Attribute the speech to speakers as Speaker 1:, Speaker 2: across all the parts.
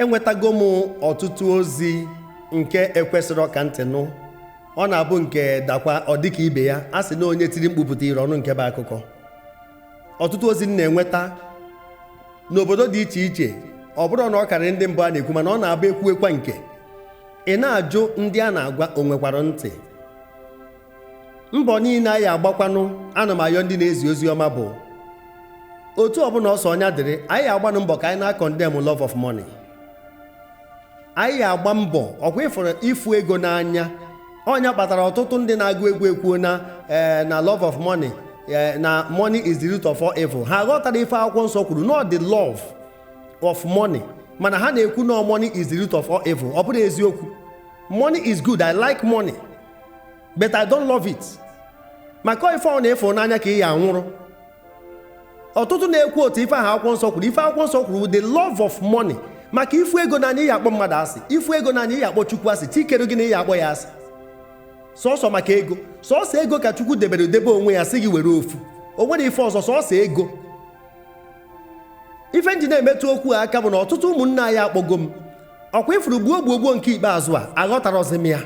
Speaker 1: enwetago m ọtụtụ ozi nke ekwesịrọ ka ntị nụ ọ na-abụ nke dakwa ọ dịka ibe ya a sị na onye tiri mkpu pụta iro ọ nụ nke bụ akụkọ ọtụtụ ozi m na-enweta n'obodo dị iche iche ọ bụrụ na ọ karịrị ndị mbụ a na-ekwu mana ọ na-abụ ekwuwekwa nke ị na-ajụ ndị a na-agwa o nwekwara ntị mbọ niile anyị agbakwanụ ana m ayọ ndị na-ezi ozi ọma bụ otu ọbụla ọ sọ nya dịrị anyị agbanụ mbọ ka anyị na-acondemn love of money anyị agba mbọ ọ kwa ị fụrụ ịfụ ego n'anya ọ nya kpatara ọtụtụ ndị na-agụ egwu ekwuo na ee eh, na love of money ee eh, na money is the root of all evil ha aghọtarọ ife akwụkwọ nsọ kwuru na ọ the love of money mana ha na-ekwu na money is the root of all evil ọ bụrọ eziokwu money is good i like money but I don't love it maka ife ọbụna ị fụ n'anya ka ị ya-anwụrụ ọtụtụ na-ekwu otu ife ahụ akwụkwọ nsọ kwuru ife akwụkwọ nsọ kwuru the love of money maka ị fụ ego n'anya ị ya-akpọ mmadụ asị ị fụ ego n'anya ị ya-akpọ chukwu asị chi kere gị na ị ya-akpọ ya asị sọsọ maka ego sọsọ ego ka chukwu debere debe onwe ya sị gị were ofu o nwerọ ife ọzọ sọsọ ego ife m ji na-emetụ okwu a aka bụ na ọtụtụ ụmụnne anyị akpọgo m ọ kwa ị fụrụ gbuo gbuo gbuo nke ikpeazụ a aghọtarọzi m ya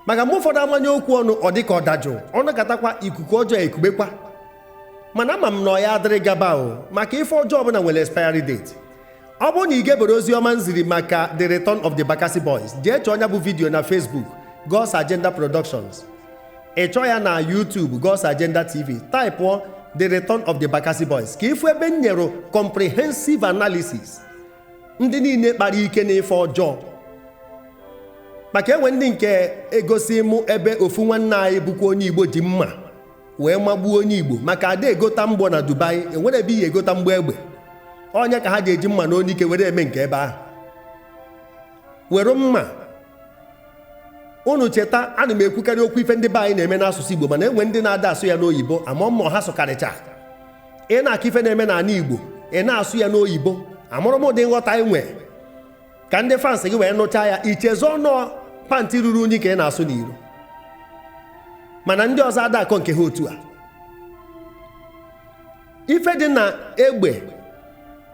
Speaker 1: maka mgbe ụfọdụ a manye okwu ọnụ ọ dị ka ọ dajụụ ọ nọkatakwa ikuku ọjọọ ekubekwa mana ama m na ọ ya adịrị gaba o maka ife ọjọọ ọbụla nwere expiry date ọ bụrụ na ị geberọ ozi ọma m ziri maka the return of the Bakassi Boys jee chọọ nya bụ vidiyo na Facebook God's Agenda Productions ị chọọ ya na YouTube God's Agenda TV taịpụọ the return of the Bakassi Boys ka ị fụ ebe m nyere comprehensive analysis ndị niile kpara ike n'ife ọjọọ maka e nwe ndị nke e gosi mụ ebe ofu nwanne anyị bụkwa onye igbo ji mma wee magbuo onye igbo maka ada egota mgbọ na Dubai enwerọ ebe ị ya-egota mgbọ egbe ọ nya ka ha ji eji mma na onyike were eme nke ebe ahụ were mma unu cheta ana m ekwukarị okwu ife ndị be anyị na-eme n'asụsụ Igbo mana enwe ndị na-ada asụ ya n'oyibo ama m ma ha sụkarịcha ị na-akọ ife na-eme n'ala Igbo ị na-asụ ya n'oyibo amarọ m ụdị nghọta i nwe ka ndị fans gị wee nụchaa ya i chezọọ na ọ pantị ruru unyi ka ị na-asụ n'iro mana ndị ọzọ ada akọ nke ha otu a ife dị na egbe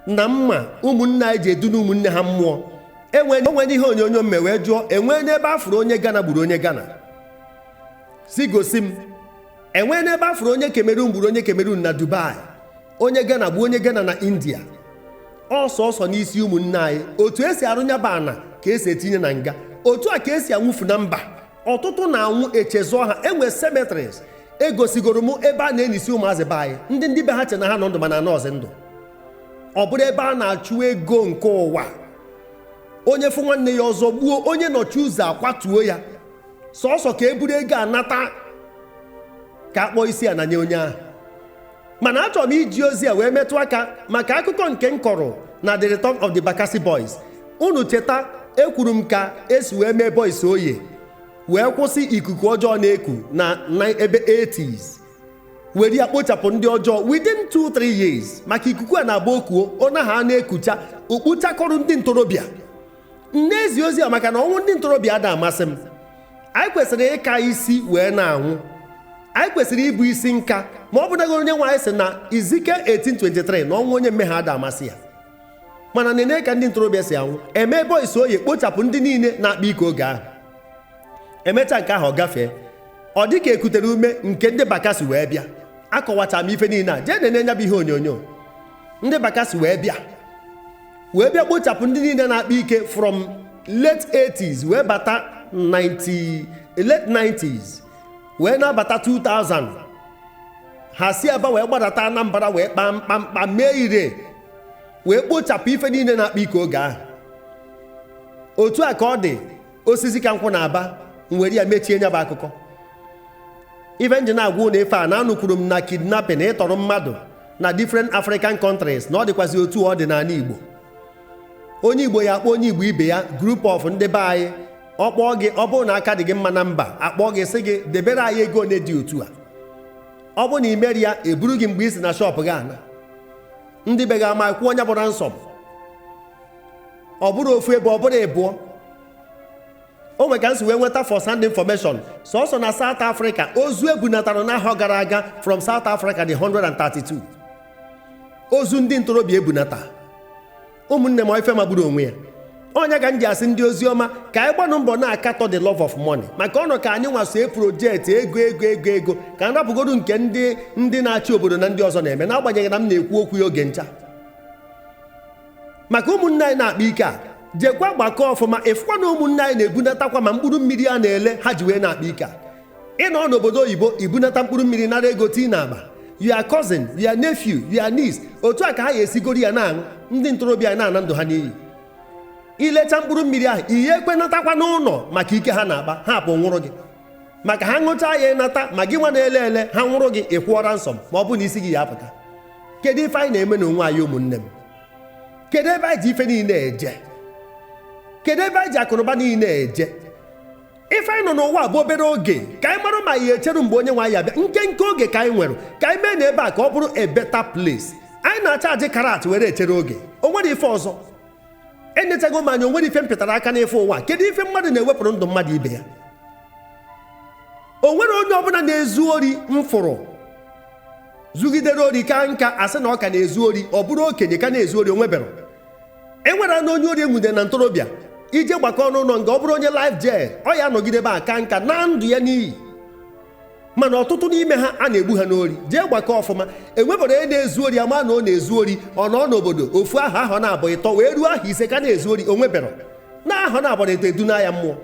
Speaker 1: na mma ụmụnne anyị ji eduna ụmụnne ha mmụọ o nwe ihe onyonyo m me wee jụọ enweene ebe a fụrụ onye Ghana gburu onye Ghana sị gosi m enwee n'ebe afụrụ onye Cameroon gburu onye Cameroon na Dubai onye Ghana gbuo onye Ghana na India ọ sọsọ n'isi ụmụnne anyị otu esi arụnyaba ana ka esi etinye na nga otu a ka esi anwụfu na mba ọtụtụ na-anwụ echezọ ha enwe cemeteries egosigoro m ebe a na-enisi ụmụazị be anyị ndị ndị be ha che na ha nọ ndụ mana anọọzi ndụ ọ bụrụ ebe a na-achụ ego nke ụwa onye fụ nwanne ya ọ zọgbuo onye nọchi ụzọ akwatuo ya sọsọ ka e buru ego a nata ka akpọọ isi ana nye onye ahụ mana achọrọ m iji ozi a wee metụ aka maka akụkọ nke m kọrọ na the return of the Bakassi boys unu cheta ekwuru m ka esi wee mee boys oye wee kwụsị ikuku ọjọọ na-eku na ebe 80s were ya kpochapụ ndị ọjọọ within 2-3 years maka ikuku a na-abụ o kuo ọ naa a na-ekucha o kpochakọrọ ndị ntorobịa m na-ezi ozi a maka na ọnwụ ndị ntorobịa ada amasị m anyị kwesịrị ịka isi wee na-anwụ anyị kwesịrị ịbụ isi nka ma ọ bụnago onye nwe anyị sị na Ezekiel 1823 na ọnwụ onye mmehie ada amasị ya mana nene ka ndị ntorobịa si anwụ eme boys oye kpochapụ ndị niile na-akpa ike oge ahụ emechaa nke ahụ ọ gafee ọ dị ka ekutere ume nke ndị bakasi wee bịa akọwacha m ife niile a jee nene nya bụ ihe onyonyo ndị bakasi wee bịa wee bịa kpochapụ ndị niile na-akpa ike from late 80s wee bata late 90s wee na-abata 2000 ha si aba wee gbadata anambra wee kpaa mkpamkpa mee ire wee kpochapụ ife niile na-akpa ike oge ahụ otu a ka ọ dị Osisikankwu na Aba m were ya mechie nya bụ akụkọ ife m ji na-agwa unu ife a na anụkwuru m na kidnapping ịtọrọ mmadụ na different African countries na ọ dịkwazị otu ọ dị n'ala Igbo onye Igbo ya akpọ onye Igbo ibe ya group of ndị be anyị ọ kpọọ gị ọ bụrụ na aka dị gị mma na mba akpọọ gị sị gị debere anyị ego ole dị otu a ọ bụ na i merọ ya eburu gị mgbe i si na shọpụ gị ana ndị be gị ama kwụọ nya bụ ransom ọ bụrụ ofu ebe ọ bụrụ ịbụọ o nwere ka nsi wee nweta first hand information sọsọ na South Africa ozu ebunatara n'ahọ gara aga from South Africa dị 132 ozu ndị ntorobịa ebunata ụmụnne m ife magburu onwe ya ọ nya ka m ji asị ndị ozi ọma ka anyị gbanụ mbọ na-akatọ the love of money maka ọ nọ ka anyị nwa so e project ego ego ego ego ka m rapụgodu nke ndị ndị na-achị obodo na ndị ọzọ na-eme n'agbanyeghị na m na-ekwu okwu ya oge ncha maka ụmụnne anyị na-akpa ike a jekwa gbakọ ọfụma ịfụkwa na ụmụnne anyị na-ebunatakwa ma mkpụrụ mmiri a na-ele ha ji wee na-akpa ike a ịnọ n'obodo oyibo ibunata mkpụrụ mmiri nara ego tii na akpa your cousin your nephew your niece otu a ka ha ga-esigoro ya na-aṅụ ndị ntorobịa na-ana ndụ ha n'iyi ilecha mkpụrụ mmiri ahụ ihe ekwenatakwa n'ụnọ maka ike ha na-akpa ha pụ nwụrụ gị maka ha ṅụchaa ya ịnata ma gị nwa na-ele ele ha nwụrụ gị ịkwụọ ransom ma ọ bụ na isi gị ya apụta kedu ife anyị na-eme n'onwe anyị ụmụnne m kedu ebe anyị ji ife niile eje kedu ebe anyị ji akụnụba niile eje ife anyị nọ n'ụwa bụ obere oge ka anyị mara ma ya echeru mgbe onye nwe anyị abịa nkenke oge ka anyị nwere ka anyị mee na ebe a ka ọ bụrụ a better place anyị na-achaji karat were echere oge o nwere ife ọzọ enyechago m anya onwere ife m pịtara aka n'ife ụwa kedu ife mmadụ na-ewepụrụ ndụ mmadụ ibe ya onwere onye ọbụla na-ezu ori m fụrụ zugidere ori ka nka asị na ọ ka na-ezu ori ọ bụrụ okenye ka na-ezu ori onwebero enwere na onye ori enwude na ntorobịa ije gbakọ ọnụ ụlọ nga ọ bụrụ onye life jail ọ ya anọgide ebe a ka nka naa ndụ ya n'iyi mana ọtụtụ n'ime ha a na-egbu ha n'ori jee gbakọ ọfụma enwebero onye na-ezu ori ama na ọ na-ezu ori ọ nọ n'obodo ofu ahọ ahọ naabọ ịtọ wee ruo ahọ ise ka na-ezu ori onwebero na ahọ naabọ ịtọ edunaa ya mmụọ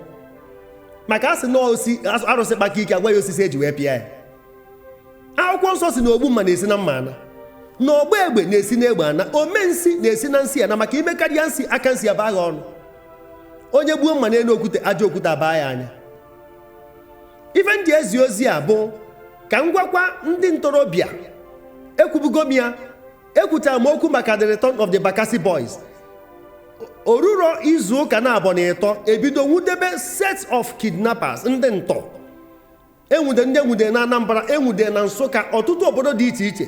Speaker 1: maka a sị na osi arụsị kpaka ike agwa ya osisi eji wee pịa ya akwụkwọ nsọ sị na ogbu mma na-esi na mma ana na ọgba egbe na-esi na egbe ana ome nsi na-esi na nsi ana maka ime karịa nsi aka nsi abaa gha ọnụ onye gbuo mma n'elu okwute aja okwute abaa ya anya ife m ji ezi ozi a bụ ka m gwakwa ndị ntorobịa ekwubugo m ya ekwuchara m okwu maka the return of the Bakassi boys oruro izu ụka naabọ na ịtọ ebido nwudebe set of kidnappers ndị ntọ enwude ndị enwude na Anambra enwude na Nsụka ọtụtụ obodo dị iche iche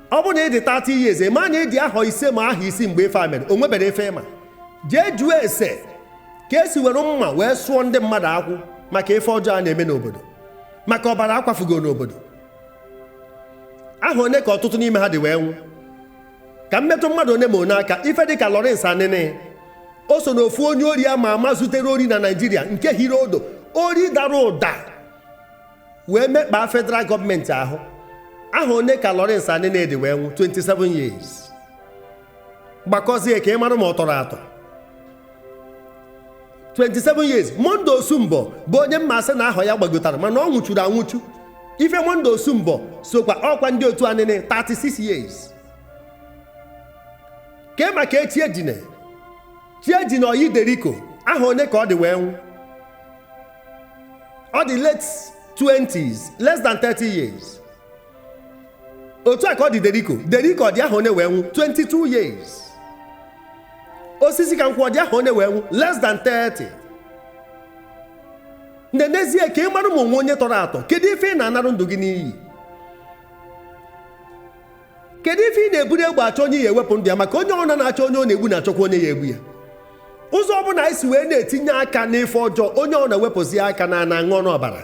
Speaker 1: ọ bụrụ na ị dị 30 years ma na ịdị ahọ ise ma ahọ isii mgbe ife a mere o nwebero ife ịma jee jụọ ese ka esi were mma wee sụọ ndị mmadụ akwụ maka ife ọjọọ a na-eme n'obodo maka ọbara akwafugo n'obodo ahọ one ka ọtụtụ n'ime ha dị wee nwụ ka m metụ mmadụ one ma one aka ife dị ka Lawrence Anini o so na ofu onye ori ama ama zutere ori na Naịjirịa nke hiri ụdụ ori dara ụda wee mekpaa federal gọọmenti ahụ ahọ one ka Lawrence Anini dị wee nwụ 27 years gbakọzie ka ị mara ma ọ tọrọ atọ 27 years Monday Osunbor bụ onye m ma sị na ahọ ya gbagotara mana ọ nwụchuru anwụchu ife Monday Osunbor sokwa ọkwa ndị otu Anini 36 years kee maka Chiejina Chiejina ọyị Derico ahọ one ka ọ dị wee nwụ ọ dị late 20s less than 30 years otu a ka ọ dị Derico Derico ọ dị ahọ one wee nwụ 22 years Osisikankwụ ọ dị ahọ one wee nwụ less than 30 nenezie ka ị mara ma onwe onye tọrọ atọ kedu ife ị na-anarụ ndụ gị n'iyi kedu ife ị na-eburu egbe achọ onye ị ya-ewepụ ndụ ya maka onye ọbụla na-achọ onye ọ na-egbu na-achọkwa onye ya-egbu ya ụzọ ọbụla anyị si wee na-etinye aka n'ife ọjọọ onye ọ na-ewepụzi aka na ana aṅụ ọnụ ọbara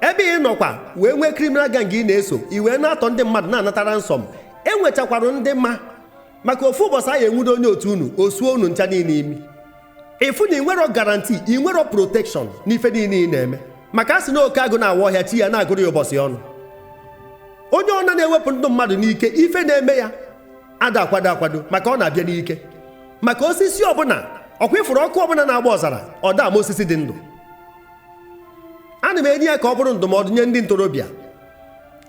Speaker 1: ebe ị nọkwa wee nwee criminal gang ị na-eso i wee na-atọ ndị mmadụ na-anata ransom enwechakwara ndị ma maka ofu ụbọchị a ya-enwudo onye otu unu o suo unu ncha niile imi ị fụ na ị nwerọ guarantee ị nwerọ protection n'ife niile ị na-eme maka a sị na oke agụ na-awa ọhịa chi ya na-agụrụ ya ụbọchị ọnụ onye ọna na-ewepụ ndụ mmadụ n'ike ife na-eme ya ada akwado akwado maka ọ na-abịa n'ike maka osisi ọbụla ọ kwa ị fụrụ ọkụ ọbụla na-agba ọzara ọ da ama osisi dị ndụ ana m enye ya ka ọ bụrụ ndụmọdụ nye ndị ntorobịa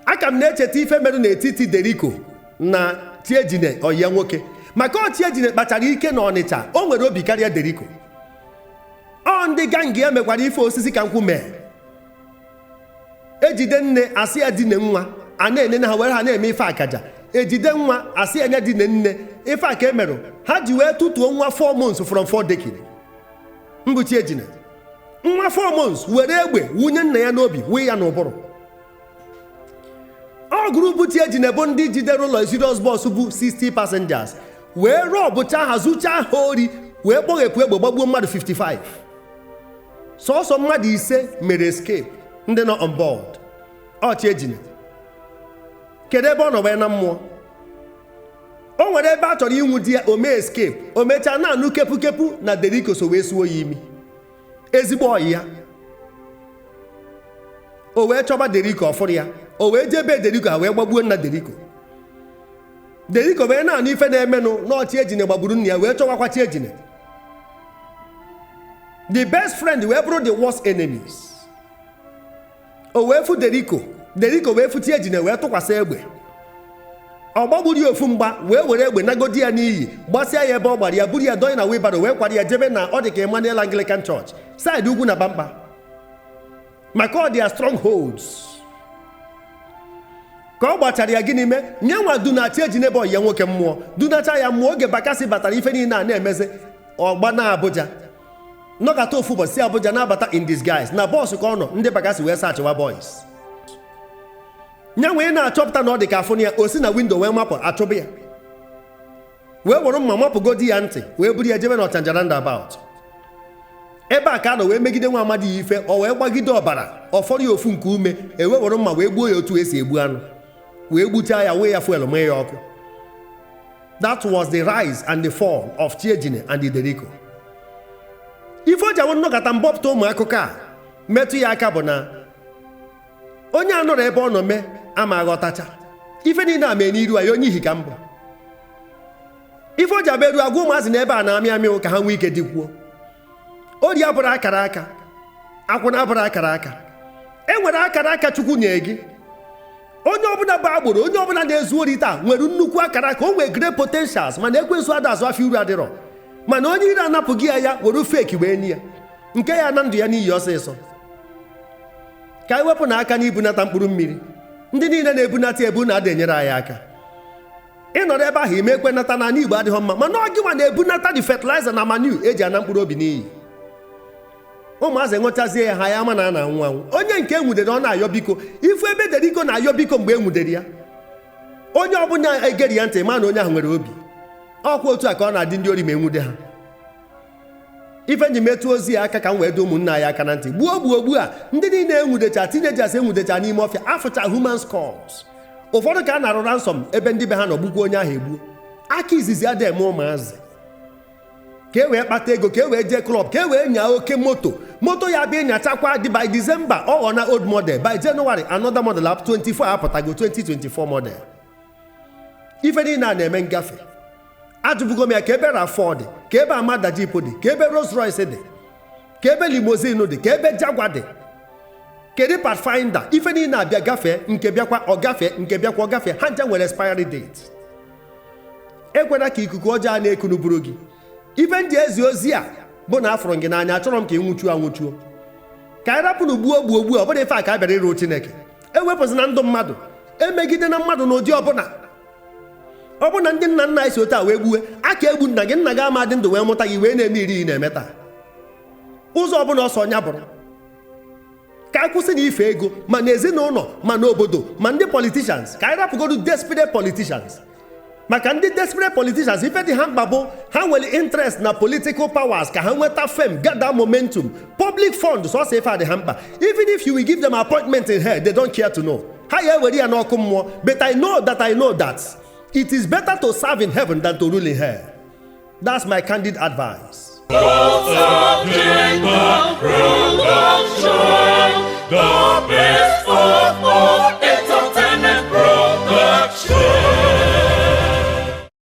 Speaker 1: aka m na-echeta ife mere n'etiti Deriko na Chiejine ọyị ya nwoke maka ọ Chiejine kpachara ike na ọnịcha o nwere obi karịa deriko ọ ndị gang ya mekwara ife osisi ka nkwụ mee e jide nne a sị ya dine nwa a na-ene na ha were ha na-eme ife akaja e jide nwa a sị ya ya dine nne ife a ka e mere ha ji wee tụtuo nwa 4 months from 4 decking mbụ Chiejine nwa 4 months were egbe wụnye nna ya n'obi wụọ ya n'ụbụrụ ọ group Chiejine bụ ndị jidere luxurious bus bu 60 passengers wee rọbụchaa ha zuchaa ha ori wee kpọghepụ egbe gbagbuo mmadụ 55 sọsọ mmadụ ise mere escape ndị nọ on board ọ Chiejine kedu ebe ọ nọ wee naa mmụọ o nwere ebe a chọrọ inwude ya o mee escape o mechaa na-anụ kepukepu na Deriko so wee suo ya imi ezigbo ọyị ya o wee chọba deriko ọ fụrọ ya o wee jee be deriko ha wee gbagbuo nna deriko deriko wee na-anụ ife na-emenụ na ọ Chiejine gbagburu nna ya wee chọwakwa Chiejine the best friend wee bụrụ the worst enemies o wee fụ deriko deriko wee fụ Chiejine wee tụkwasị egbe ọ gbagburu ya ofu mgba wee were egbe nagodi ya n'iyi gbasịa ya ebe ọ gbara ya buru ya dọnye na wheelbarrow wee kwara ya jebe na ọ dị ka Emmanuel Anglican Church side Ugwunabamkpa maka ọ their strongholds ka ọ gbachara ya gịnị mee ya nwa dunaa Chiejine bụ ọyị ya nwoke mmụọ dunacha ya mmụọ oge Bakassi batara ife niile a na-emezi ọ gbanaa Abuja nọkata ofu ụbọchị si Abuja na-abata in disguise na bus ka ọ nọ ndị Bakassi wee sachịwa bus ya wee na-achọpụta na ọ dị ka a fụna ya o si na windo wee mapụ a chụba ya wee were mma mapụgodi ya ntị wee buru ya jebe na ọchanja roundabout ebe a ka a nọ wee megide nwa amadi a ife ọ wee gbagide ọbara ọ fọrọ ya ofu nku ume e wee were mma wee gbuo ya otu e si egbu anụ wee gbuchaa ya wụọ ya fuel mụọ ya ọkụ that was the rise and the fall of Chiejine and Deriko ife o ji awụ m nọkata m bupụta ụmụ akụkọ a metụ ya aka bụ na onye anọrọ ebe ọ nọ mee ama aghọtacha ife niile a mee n'iru anyị onye ihi ka mbụ ife o ji abụ eru agwa ụmụazị n'ebe a na-amị amị ka ha nwee ike dịkwuo ori abụrọ akara aka akwụna abụrọ akara aka e nwere akara aka chukwu nye gị onye ọbụla bụ agboro onye ọbụla na-ezu ori taa nwere nnukwu akara aka o nwee great potentials mana ekwensu ada azụ afịa uru adịrọ mana onye iro anapụgo ya ya were fake wee nye ya nke ya-ana ndụ ya n'iyi ọsịsọ ka anyị wepụnụ aka n'ibunata mkpụrụ mmiri ndị niile na-ebunata ebu unu ada enyere anyị aka ị nọrọ ebe ahụ ime ekwe nata na anị Igbo adịghị mma mana ọ gịnwa na-ebunata the fertilizer na manure e ji ana mkpụrụ obi n'iyi ụmụazị ṅụchazie ya ha ya ama na a na-anwụ anwụ onye nke e nwudere ọ na-ayọ biko ị fụ ebe Deriko na-ayọ biko mgbe e nwudere ya onye ọbụla gere ya ntị ma na onye ahụ nwere obi ọkwa otu a ka ọ na-adị ndị ori ma e nwude ha ife m ji metụ ozi a aka ka m wee dọ ụmụnna anyị aka na ntị gbuo gbuo gbuo a ndị niile e nwudecha teenagers e nwudecha n'ime ọfịa a fụcha human skulls ụfọdụ ka a nara ransom ebe ndị be ha nọ gbukwa onye ahụ egbuo aka izizi ada eme ụmụazị ka e wee kpata ego ka e wee jee club ka e wee nyaa oke moto moto ya bụ ị nyachakwa dị by December ọ ghọna old model by January another model up 24 apụtago 2024 model ife niile a na-eme ngafe ajụbugo m ya ka ebe RAV4 dị ka ebe Armada Jeep dị ka ebe Rolls Royce dị ka ebe limousine dị ka ebe Jaguar dị kedu Pathfinder ife niile abịa gafee nke bịakwa ọ gafee nke bịakwa ọ gafee ha ncha nwere expiry date ekwela ka ikuku ọjọọ na-ekunu buru gị ife m ji ezi ozi a bụ na afụrụ m gị n'anya achọrọ m ka ị nwụchuo anwụchuo ka anyị rapụnụ gbuo gbuo gbuo ọ bụrọ ife a ka a bịara ịrụ Chineke ewepụzina ndụ mmadụ emegidena mmadụ n'ụdị ọbụla ọ bụrụ na ndị nna nna anyị si otu a wee gbuwe a ka egbu nna gị nna gị ama adị ndụ wee mụta gị ị wee na-eme ife ị na-eme taa ụzọ ọbụla ọ sọ ya bụrụ ka a kwụsị na ife ego ma na ezinụlọ ma na obodo ma ndị politicians ka anyị rapụgodu desperate politicians maka ndị desperate politicians ife dị ha mkpa bụ ha nwere interest na political powers ka ha nweta fame gather momentum public fund sọsọ ife adị ha mkpa even if you will give them appointment in hell they don't care to know ha ya ewere ya n'ọkụ mmụọ but i know that i know that it is better to serve in heaven than to rule in hell that's my candid advice. The best of all.